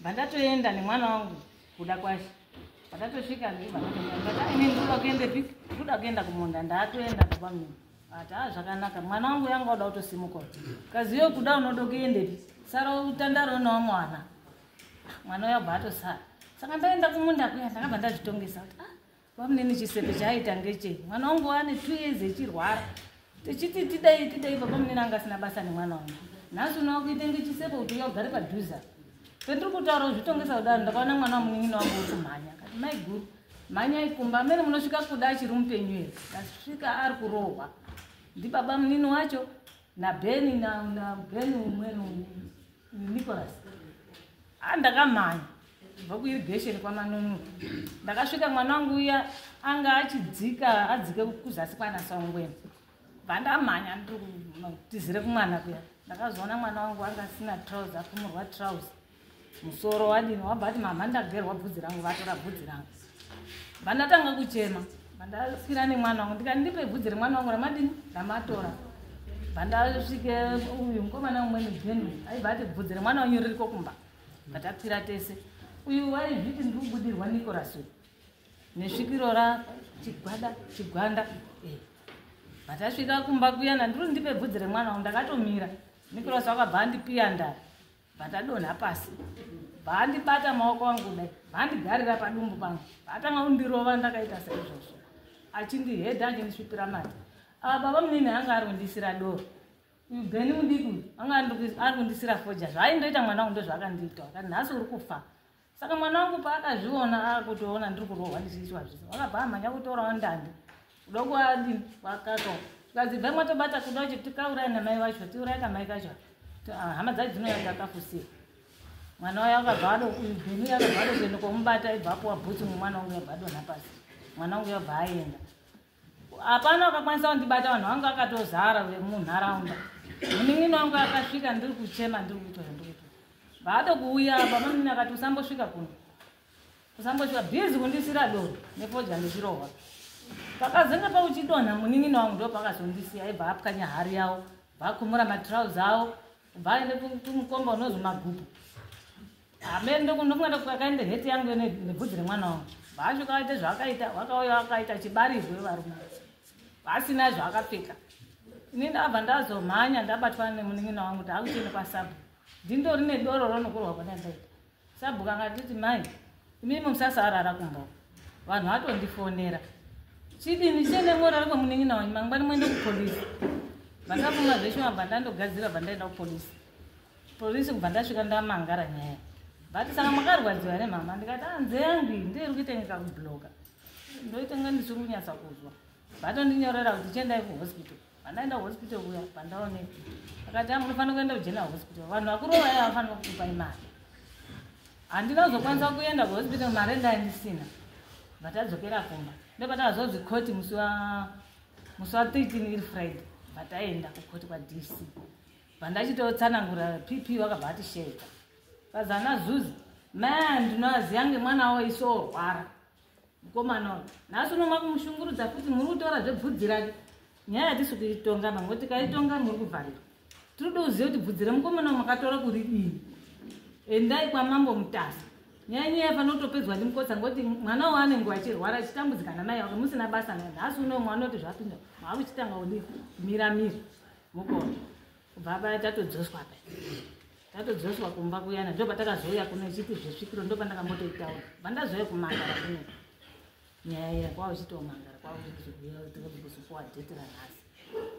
vandatoenda nemwana wangu kuda kwashe vatatosvika ndivainendoda kuenda pi ndoda kuenda kumunda ndaatoenda baba mimi ati a zvakanaka mwana wangu yanga uda kutosimuka kaziyo kuda unoda kuendepi sara utandaro unawo mwana mwana uyo abva atosara saka ndaenda kumunda kuya ndakabva ndazvitongesa kuti ah, Bamunini chisepe chaaita ngeche mwana wangu wane two years echirwara tichiti tidai tidai babamunini anga asina basa nemwana wangu nhasi unowa kuita ngechisepe kuti uya ugare padhuza pendiri kutaura uzvitongesa kudaro ndakaona mwana wamunin'ina wangu wekumhanya kati mai guru mhanya ikumba amene munosvika kuda achiri mupenyu here tasvika ari kurohwa ndibaba munini wacho nabeni nabeni umweni umwe nicholas a ndakamhanya kubva kuirigation kwamanunu ndakasvika mwana wangu uya anga achidzika adzike kuzasi kwanasongweni vandamhanya ndiri kutizire kumwana kuya ndakazoona mwana wangu anga asina trouse akumurwa trouse musoro wadini wabva ati mama ndagerwa bvudzi rangu vatora bvudzi rangu vandatanga kuchema vandasvira nemwana wangu ndikati ndipe bvudzi remwana wangu ramadini ndamatora vandasvike uyu mukomana umweni jeni aibva ati bvudzi remwana wanyu ririko kumba vatakwira tese uyu waizviti ndiri kubudirwa nicolas uyu nesvikiro ra chigwada chigwanda eh. vatasvika kumba kuyana ndiri ndipe bvudzi remwana wangu ndakatomira nicolas wakabva andipiya ndari Vatadonha pasi vaandibata maoko angu kudai vaandigarira padumbu pangu vaatanga kundirova ndakaita seizvozvo achindihedha achindisvipira mati ava ah, baba munini anga ari kundisira doro uyu beni mudiki uyu anga ari kundisira foja zvaaindoita mwana wangu ndozvaakandiita akati nhasi uri kufa saka mwana wangu paakazviona akutoona ndiri kurohwa ndichiitwa zvese wakabva amhanya kutorawo ndandi kuda kuadini kwakato tikadzibva mwatobata kuda kuti tikaurai namai vacho tiurai kamai kacho ah, hama dzacho dzinouya dzakafusira mwana wayo akabva adobhenu yakabva adokuenda kwamubata ibva apuwa bhutsu mumwana wangu yabva adonha pasi mwana wangu yabva aenda hapana wakakwanisa kundibata vanhu vangu akatozara vemunharaunda munin'ina wangu akasvika ndiri kuchema ndiri kuita zvandikuita vaatokuuya bamanini akati usambosvika kuno usambosvika bhizi kundisira doro nefodya ndichirohwa pakazenge pauchidonha munin'ina wangu ndo pakazondisiya aibva apwanya hari yavo vakumura matrouse avo Bhayi nekumukomba unozi magupu. Amene ndokundokunga kwakaenda heti yangu ine nebvudzi remwana wangu. Bhaasho kawaita zvaakaita, wakauya wakaita chibarirwe varume. Vasina zvaakapfeka. Ini ndabva ndazomhanya ndabatwa nemunin'ina wangu kuti akuchene kwasabu. Ndindori nedoro ronokurwa kwanandaita. sabhuku akatiti mai imimi musasarara kumba vanhu vatondifonera chidini chene morara kwemunin'ina wanyu mangwani muende kupolisi vandafuma zveshe mabva ndandogadzira bva ndaenda kupolisi polisi kubva ndasvika ndamangara nyaya but saka makarwadziwa here mama ndikati anze ah, yangu iyi ndeiri kuitengeka kubloka ndoitenga ndisiri kunyatsa kuzwa vatondinyorera kuti chiendai kuhospital Andaenda hospital kuya pandaoneka. Akati amu ah, unofanira kuenda kujena hospital. Vanhu vakuru vaya vanofanira kukupa imari. Handina kuzokwanisa kuenda kuhospital mari ndaindisina. But adzokera kumba. Ndopatakazonzi court musi wa musi wa 13 iri Friday. But aenda kucourt kwa DC. Pandachitotsanangura PP wakabva atisheka. Kazana zuzi. Man, ndinoaziya ngemwana wawo isorwara. Mukomana uyu nhasi uno makumushungurudza futi muri kutaura zvebvudzi rake. Nyaya hatisi kuitonga mamwe tikaitonga muri kuvharirwa. Tiri kuda kuziva kuti bvudzi remukomana uyu makatora kuridii. Endai kwamambo mutasa. Nyaya nyaya yafanira kutopedzwa ndi mukotsa ngoti mwana uyu anenge achirwara achitambudzikana naye wake musina basa naye. Nhasi uno mwana oti zvapinda. Maakuchitanga kudii? Mira mira. Mukoma. kubva paya tatodzoswa paya tatodzoswa kumba kuyana ndo patakazouya kuno ichipi zvesvikiro ndo pandakambotoitaura vandazouya kumangara kuno nyaya iya kwava uchitomangara kwava uchitikuya kuti kuzopuwa dheti ranhasi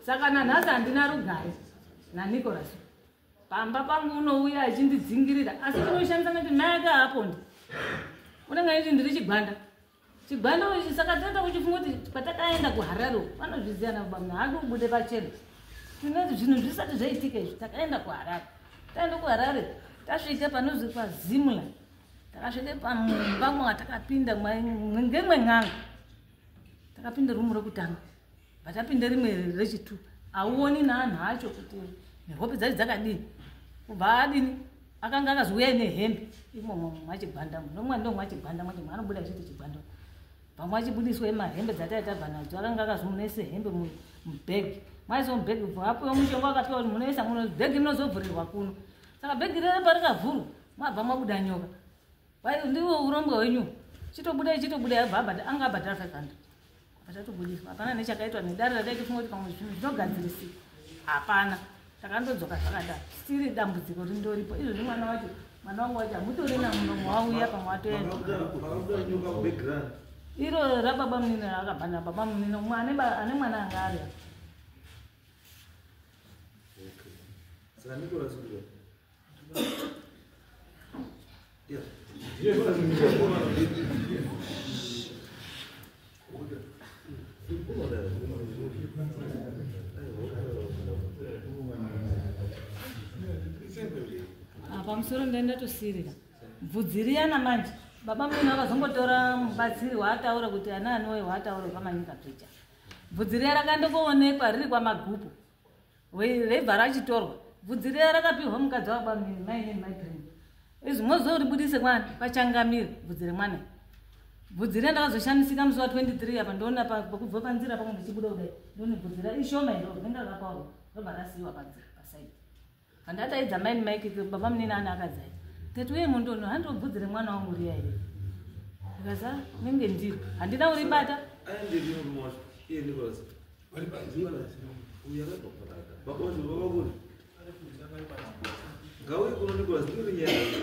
saka nanhasi handina rugare nanicolas pamba pangu unouya achindidzingirira asi chinoshandisa kuti mai aka apondi unenge aiti ndiri chigwanda Chibwana uyu saka tata uchifunga kuti patakaenda kuHarare vanozviziva na baba haadi ubude pachena. Tinoti zvinhu zvisati zvaitika izvi takaenda kuHarare. Taenda kuHarare tasvika panozi kwa Zimla. Takasvika pamumba mwatakapinda ngemwe n'anga. Takapinda rumu rekutanga. but apinde rimwe rechitu auoni naanhu acho kuti nehope dzai dzakadii kubva adini akanga akaziuya ine hembe imomo mwachigwanda nomwa ndo mwachigwanda mwacho maanobuda chete chigwanda pamwe achibudiswa emahembe dzatai tabva nadzo akanga akazomunese hembe mubheg maiso mubheg bva apiwa mushonga akapiwa kuti munoisa muno bheg rinozovhurirwa kuno saka bheg rere parikavhurwa mwabva mwabuda nyoka ndiwo urombwa wenyu chitobuda chitobuda yabva anga abhadhara 500 Patatoburitswa hapana nechakaitwa nedare rataitofunga kuti pamwe zvinhu zvinogadzirisika. Hapana. Takandodzoka zvakadaro. Siri dambudziko rindoripo. Izvo zvimwana wacho mwana wangu wacho hamutori namunomo wauya pamwe watoenda. Iro rababa munini rakabva nababa munini umwe ane mwana anga ari. Okay. Saka ndiko rasukira. pamusoro ndaenda tosirira bvudzi riyana manje baba muna vakazongotora mubatsiri waataura kuti ana anowe waataura pamanyika picha bvudzi riya rakandokoonekwa riri kwamagupu raibva rachitorwa bvudzi riya rakapihwa mukadzi wabamini maine maidream izvi mozoribudise mwana pachangamire bvudzi remwana bvudzi riya ndakazoshamisika musi wa 23 apa ndoona pakubva panzira pamwe ndichibuda kudai ndoona bvudzi ra ishoma iro rinenge rakapaurwa robva rasiiwa panzira pasaidi Handataidza maini Mike baba munini ana akadzai. Tete uye mundono handobvudzire mwana wangu uri here? Ndikaza nenge ndiri. Handina uri bata. Aende ndiyo mwana. Iye ndikozi. Vari pa ndiyo na sino. Uya ka baba kaka. Baba wangu baba kuni. Gawe kuno ndikozi ndiri nyaya.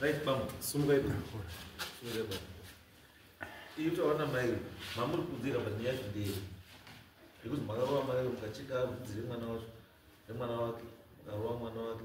Right, bambo. Sumuka ipo. Sumuka ipo. Iyo tawana mai mamuri kudzira panyaya zvidei nekuti makarova mai mukachika kudzire mwana wacho nemwana wake makarova mwana wake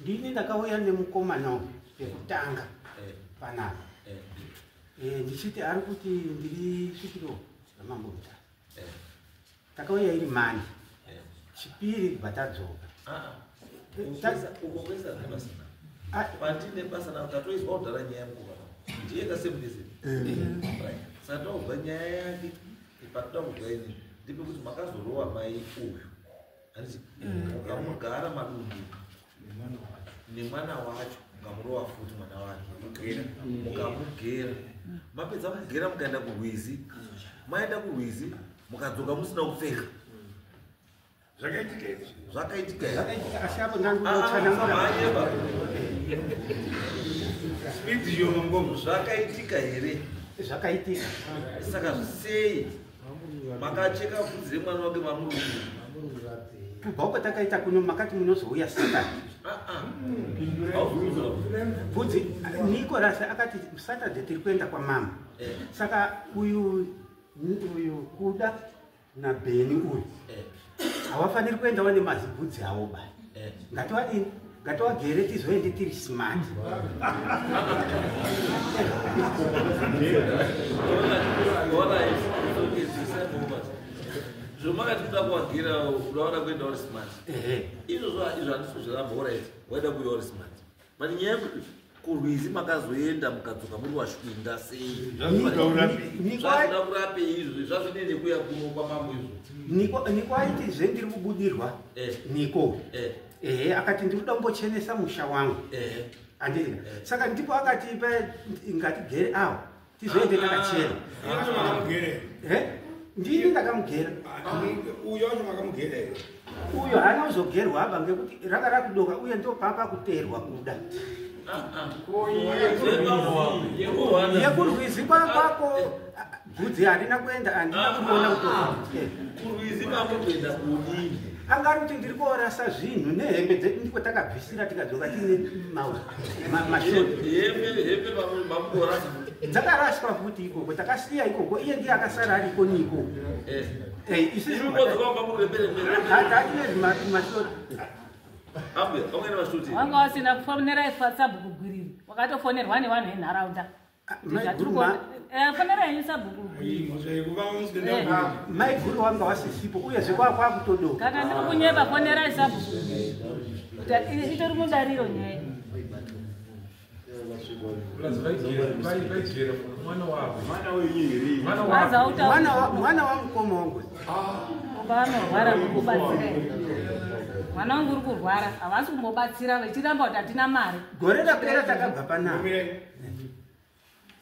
ndini ndakauya nemukomana pekutanga eh. panapa eh. eh, ndichiti ari kuti ndiri svikiro ramambo muta takauya iri mani chipiri kubva tadzoka ah, ah. patine basa navo tatoizwa kudhara nyaya mukova ndiye kasemudese satauzwa nyaya yake ipatoda kudzaini ndipe kuti makazorova mai uyu hanzi ukamugara madumbu nemwana wacho mukamurova futi mwana wake mukamugera mapedza kugera mukaenda kurwizi maenda kurwizi mukadzoka musina kupfeka zvakaitika izvi zvakaitika zvakaitika asi apo ndanguotsananguaayeba spidi yomambomo zvakaitika here zvakaitika saka sei makacheka vhudzi remwana wake vamurungu kubva uko takaita kuno makati munozouya saturday bvudzi nicolas akati saturday tiri kuenda kwamama saka uyu uyu kuda nabheni uyu havafaniri kuenda wane mazibhudzi avo ba eh. ngatiwadini ngatiwagere tizoende tiri smart zvomakati kuda kuwagira unaona kuenda uri smart izvozvo izvo handisozviramba urit waida kuya uri smart But nyaya yekuti kurwizi makazoenda mukadzoka muri washwinda sei zvazoda kurapei izvi zvazvine nekuya kuno kwamambo izvo niko aiti zve ndiri kubudirwa eh. niko eh. ehe akati ndiri kuda kumbochenesa musha wangu eh. andii saka ndipo akati ngatigere awo tizoende takachena eh? ndini ndakamugera uyo acho makamugera here uyo haana kuzogerwa aba ngekuti ranga rakudoka uye ndopapa kuterwa kuda yekurwizi kwakwako bvudzi harina kuenda andina kuona kutokurwizi kwako kuenda kudii angari kuti ndiri kuorasa zvinhu nehembe dzedu ndiko takabvisira tikadzoka tiine mauzi dzakaraswa futi ikoko takasiya ikoko iye ndiye akasara ari iko niko eh. eh, isiatinezimaatine vanga wasina kufonera ifatsabu kugwiriri wakatofonerwa nevanhu venharaunda maiguru wanga wasisipo uye zvekwakwakutodokati ndiri kunyeba fonerai sabhuku itori mudariro nyaya mwana wamukoma wangu ubanorwara kukubatsira mwana wangu uri kurwara havasi kumbobatsira vechiramba kuti hatina mari gore rapera takabva panaa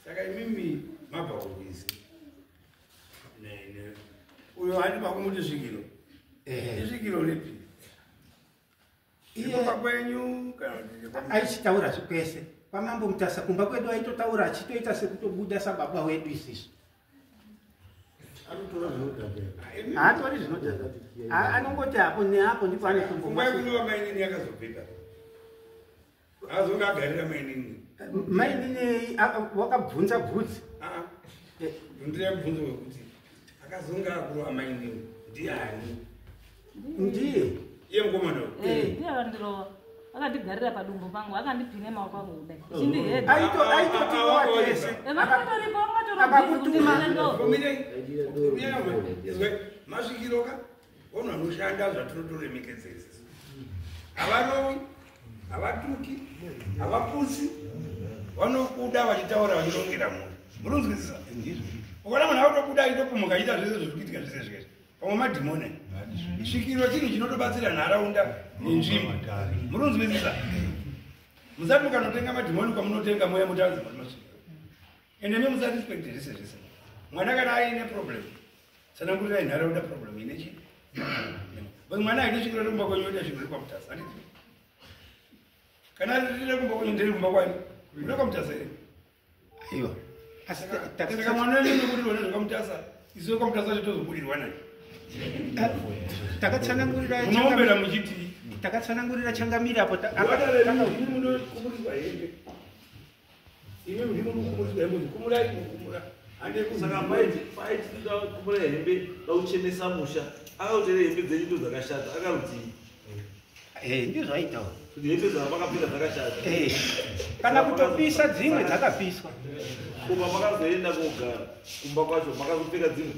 saka imimi mabva kuwizi uyo handi pakumuti svikiro isvikiro ripi ikoka kwenyu aichitaura zvikwese kwamambo mutasa kumba kwedu aitotaura achitoita sekutobuda sababa wedu isisu haatori zvinodhaka anongoti hapo neapo ndipo anotombomainyini yakazobvita azonge agarira mainini mainini wakabvunza bvudzi ndiri abvunzo wekuti akazonge akuru amainini ndiani ndiye iye mukomana ndiye akandirova akandigarira padumbu pangu akandipine maoko angu kudai chindihedaakakutumaakakutumaa Ono anoshanda zvatinotoremekedza izvi. Havarovi, havatuki, havapusi, vanokuda vachitaura vachirongera mhuri. Munonzwisisa? Ukaona munhu akutokuda achitopumuka achiita zvese zviri kuitika zvese zvese. Pamwe madhimoni. Svikiro chinhu chinotobatsira nharaunda nenzvimbo. Munonzwisisa? Musati mukanotenga madhimoni kwamunotenga mweya mutazi. ende imi musatispecterise zvese mwana kana aine problem sanangurira inharaunda problem ine chi bcause mwana aine svikiro rekumba kwenyu oita svikiro rekwamutasa handiti kana riri rekumba kwenyu ndiri kumba kwani rekwamutasa iri aiwa saka mwana wenyu nekurirwa nezvekwamutasa isu wekwamutasa chitozoburirwa nani takatsanangurira unombera muchiti takatsanangurira changamira apo Imi muri mukumuri dai muri kumurai mukumura. Ande kusaka mai pai tinoda kumura hembe dauchenesa musha. Akautera hembe dzenyu ndo dzakashata akarudzii. Eh ndizvo zvaitawo. Kuti hembe dzavo vakapfeka dzakashata. Eh. Kana kutopisa dzimwe dzakapiswa. Kumba makazoenda kogara kumba kwacho makazopfeka dzimwe.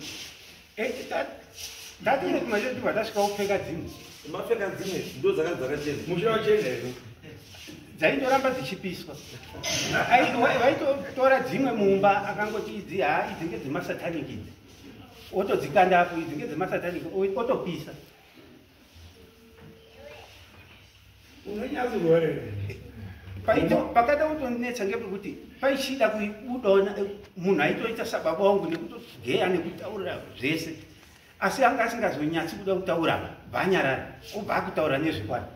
Ndatiri kuma chete bata svika upfeka dzimwe. Mapfeka dzimwe ndo dzaka dzaka chena. Mushira wachena iwe. Dzaindoramba dzichipiswa. Vaitotora dzimwe mumba akangoti idzi ha idzi ngedze masatanic idzi. Otodzikanda apo idzi ngedze masatanic otopisa. unonyatsororera pakada kutonetsa ngepekuti paichida kuibudawo eh, munhu aitoita sababa wangu nekutogeya nekutaurira zvese asi anga asingazonyatsi kuda kutaura bvanyarara obva akutaura nezvekwani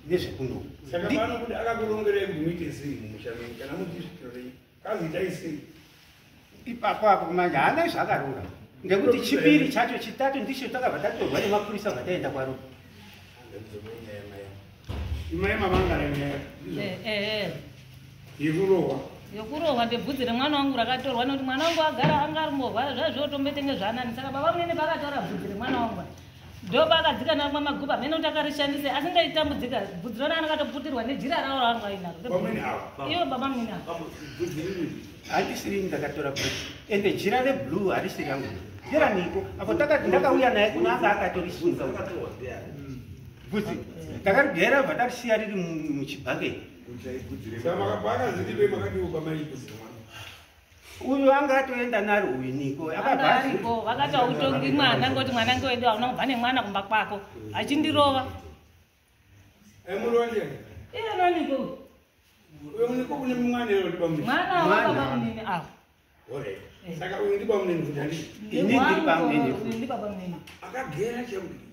nezvekunoku saka panokuti akakurongerei kuti muite zii mumushano kana mudizvitirei Kazoitai sei? Ipapo apo manje haana zvakarura ngekuti chipiri chacho chitatu ndicho takabva tatorwa nemapurisa vataenda kwaro. Imai mamangara nyaya. Eh eh. Yekurohwa. Eh. yokurohwa ndebvudzi remwana wangu rakatorwa nekuti mwana wangu agara anga ari mborwara zvaizvotombetenge zvanani saka baba munene pakataura bvudzi remwana wangu Doba akadzikana kumwa maguba mhene kuti akarishandise asi ndaitambudzika bvudzi rona anakatoputirwa nejira rawo ravanhu vainaro ivo baba mnini ava handisiri ndakatora bru ende jira reblue harisi rangu jira niko apo takati ndakauya naye kuno anga akatorisunga bvudzi takarigera bva tarisiya riri muchibhaketi uyu anga atoenda nari uiniko akabaariko vakati autongi mwana ngoti mwana nge wedu hauna kubva nemwana kumba kwako achindirova emurondi iye noniko uyo muniko kune mwana ero ndiba munini mwana wababa munini avo saka uyu ndiba munini kuti handii ini ndiri bamunini akagera chekudii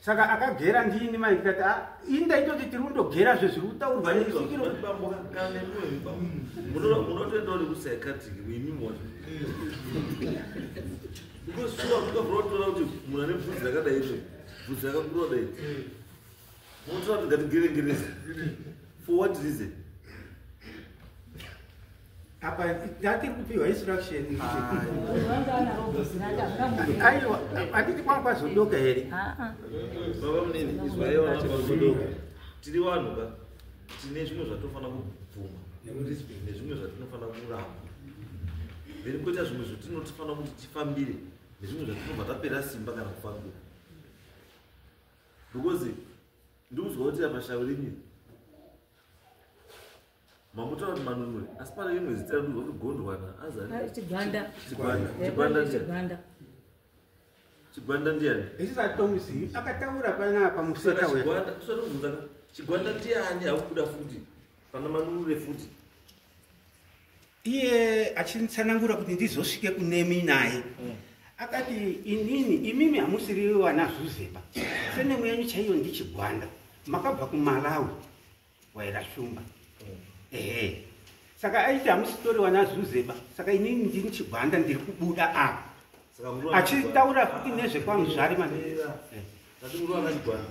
saka akagera ndini mai ndikati ah, ini ndaitoti tiri kundogera zve zviri kutaurwa nesikirooaotorakuti munhu ane bvudzi rakadai bvudzi rakakurodai Munotora kuti ngatigevengerese. For what reason? apa ndati kupiwa instruction aiwa anditi kwanga kwazodoka here ah, ah. baba munini izwaiwa kwazodoka tiri vanhu ka tine zvimwe zvatofanira kubvuma nezvimwe zvatinofanira kuramba then koita zvimwe zvatinotifanira kuti tifambire nezvimwe zvatinobva tapera simba kana kufambira because ndikuziva kuti apa shavi rinye mamutaura kuti manunwe asi pane imwe zita rekuziva kuti gondwana azachigwanda chigwanda ndiyani isisatomzi akataura panapa museka wegwanda kusatobvunzaka chigwanda ndiyani akubuda futi pana manunure futi iye achinditsanangura kuti ndizosvike kunemi naye mm. akati inini imimi hamusiri vana zuzepa senemu yenyu chaiyo ndichigwanda makabva kumalawi waira shumba mm. ehe saka aiti hamusitori vana zuzeba saka inini ndini chigwanda ndiri kubuda apa achitaura kuti nezvekwamusvari mandiati eh. murova vachigwanda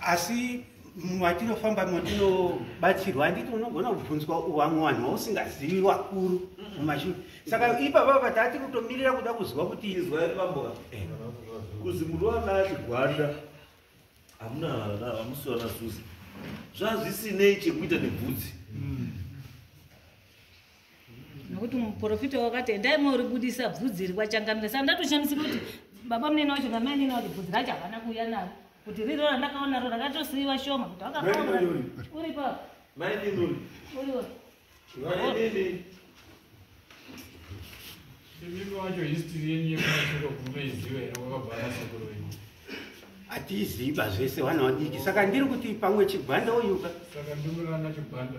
asi matinofamba matinobatsirwa handiti unogona kubvunzwa vamwe vanhu vausingazivi vakuru mumashure saka ipapa patati kutomirira kuda kuziva kuti izwai vambo eh. kuzi muri vana chigwanda hamuna hamusi vana zuzi zvazvisinei chekuita nebvudzi mm. nokuti muprofita wakati endai moribudisa bvudzi iri kwachangamira saka ndatoshamisika kuti baba munene wacho namai nene wacho bvudzi racho havana kuuya naro kuti riro randakaonaro rakatosiiva shoma kuti wakakaona uripo uripo imimi wacho history yenyu yekumasviko kurume izive here kwakabvara sekuru venyu hatiziva zvese vana vadiki saka ndiri kuti pamwe chigwanda uyuka saka ndimurana chigwanda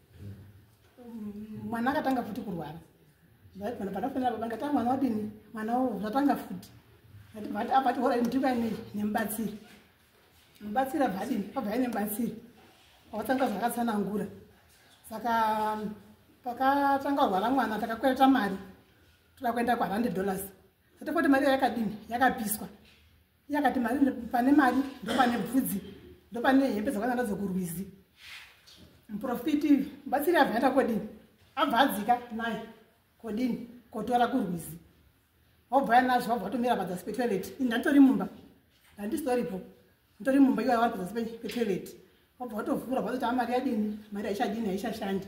mwana akatanga futi kurwara vana pakafanira baba ngati mwana wadini mwana wo zvatanga futi vati avati hora ndikane nemubatsiri mubatsiri abvadini abvai nemubatsiri wakatanga zvakatsanangura saka pakatanga rwara mwana takakwereta mari toda kuenda kuhundred dollars sati foti mari yakadini yakapiswa iye akati mari pane mari ndopane bvudzi ndopane hembe dzakanga ndadzo kurwizi muprofiti mubatsiri abva aita kodini abva adzika naye kodini kotora kurwizi wabva ya nazvo wabva watomira padzasi petoilet ini ndanditori mumba ndandisitoripo nditori mumba iwayo wari padzasi petoilet wabva watovhura vazoti amari yadini mari haichadini haichashandi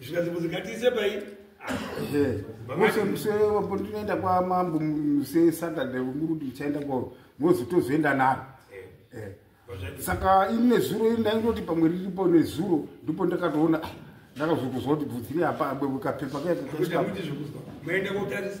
zvikanzi kuti ngatiise pai mose musere wapo tinoenda kwamambo muse saturday uri kuti uchaenda kwavo mozi tozoenda naro eh. eh. saka ini nezuro ini ndaindoti pamwe riripo nezuro ndipo ndakatoona ah, ndakazokuzwa kuti bvudzi ri hapa abwekapepa kaekakuti zvekuzwa maenda kotarisa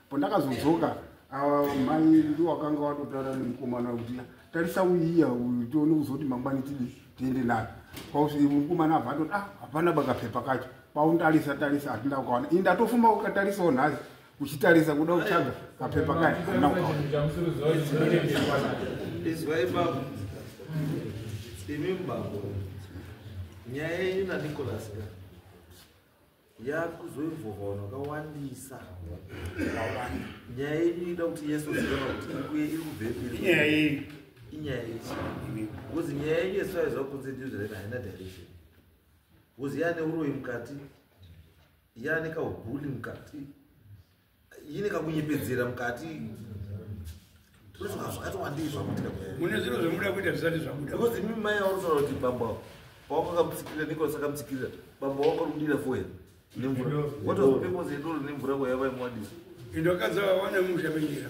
pandakazodzoka ava mai ndi wakanga watotaura nemukomana kuti tarisa uyiya uyu tione kuzoti mangwani tidi tiende nayo kwakuti mukomana abva atoti ah hapana bakapepa kacho paundarisa tarisa hatina kukaona ini ndatofumba ukatarisawo nhasi uchitarisa kuda kutsvaga kapepa kacho hatina kukaona imi mbabo nyaya yenyu nanicolas ka yaa kuzoinvova vanhu vakawandisa nyaya yenyu inoda kuti yesu zivana kuti ikuye iri kubvepiri inyaya yenyu inyaya yechi bcause nyaya yenyu yesu aiziva kunze ndiyo zvaina haina direction bcause yaane uroyi mukati yaane kaubuli mukati ine kakunyepedzera mukati mune zviro zvemuda kuita zvisati zvabuda because imi mai aunotaura kuti bamba wako akamusikirira nicolas akamusikirira bamba wako rumudira foya nemvura what was the purpose yedoro nemvura kwayavaimwadisa indokadza vawana musha menyera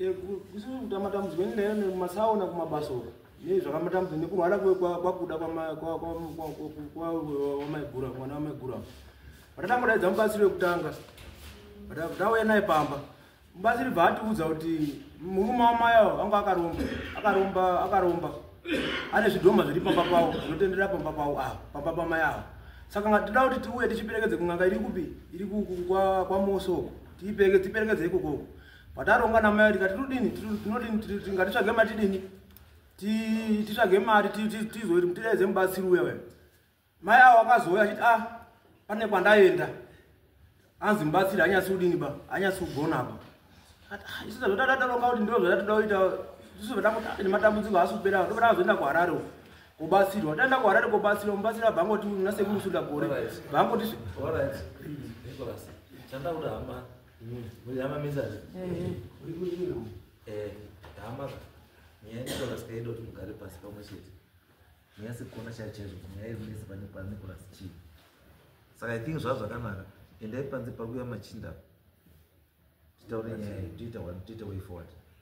Eh, kusiamatambudziko endayo nemasaona kumabasa uko nei zvakamatambudziko nekurwara kwakuda kwamaigura mwana wamaigura vatatambodaidza mubatsiri wekutanga tauya naye pamba mubatsiri bva atiudza kuti murume wamayawo anga akaromba akaromba akaromba ane zvidhoma zviri pamba pavo zvinotenderera pamba pavo ava pamba pamayawo saka nga tida kuti tiuye tichiperekedze kun'anga iri kupi iri kwamosoko tiperekedze ikokoko pataronga namai kuti katirudini tinodini tingatitsvage matidini titsvage mari tizoiti mutidaidze mubatsiri uya uya mai avo akazouya achiti a ah, pane kwandaenda anzi mubatsiri anyasi kudini ba anyasi kugona ba ah, isu zvataronga kuti ndiro zvatatoda kuita isu zvatakuti nematambudziko haasi kupera tobata kuzoenda kuharare uko kubatsirwa taenda kuharare kubatsirwa mubatsira bhangoti nasekuru sunda gore bhangoti chandakuda hama Mujama mizali. Eh. Uri kuchina. Eh, dama. Nyaya ni kola skai dot mugari pasi pa mweshit. Nyaya si kona cha chezo, nyaya iri nisi pani pa ni kola schi. Saka i think zwa zwa kanaka. Ende panzi pa kuya machinda. Tita uri nyaya, tita one, tita way forward.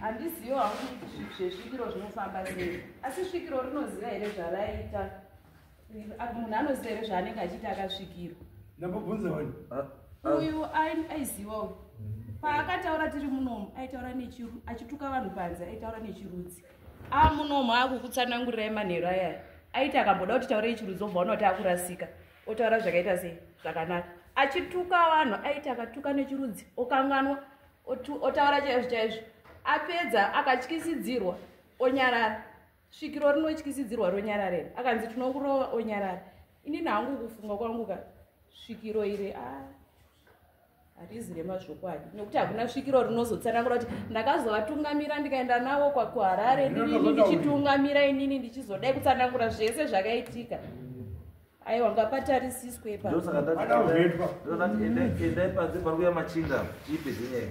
handizivo hangu zvezvikiro zvinofamba sei asi svikiro rinoziva here zvaraita munhu anoziva here zvaanenge achiita akasvikiro ndambobvunza wani ah, ah. uyu aiziva uyu paakataura tiri munomu aitaura nechiru achituka vanhu panze aitaura nechirudzi amunomu ah, akukutsanangurirai manheru ayaya aiti akamboda kuti taurei chirudzi obva unakuti akurasika otaura zvakaita sei zvakanaka achituka vanhu aiti akatuka nechirudzi okanganwa otaura chaizvo chaizvo apedza akatyisidzirwa onyarara svikiro rinotyisidzirwa ronyararera akanzi tinokurova onyarara inini hangu kufunga kwangu ka svikiro iri a ah. hatizi remazvokwadi nekuti hakuna svikiro rinozotsanangura kuti ndakazovatungamira ndikaenda navo kwakuharare ndinini ndichitungamira inini ndichizodai kutsanangura zvese zvakaitika aiwa ngapatarisiswe paendai panze pari kuya machinda chiipe dzenyaya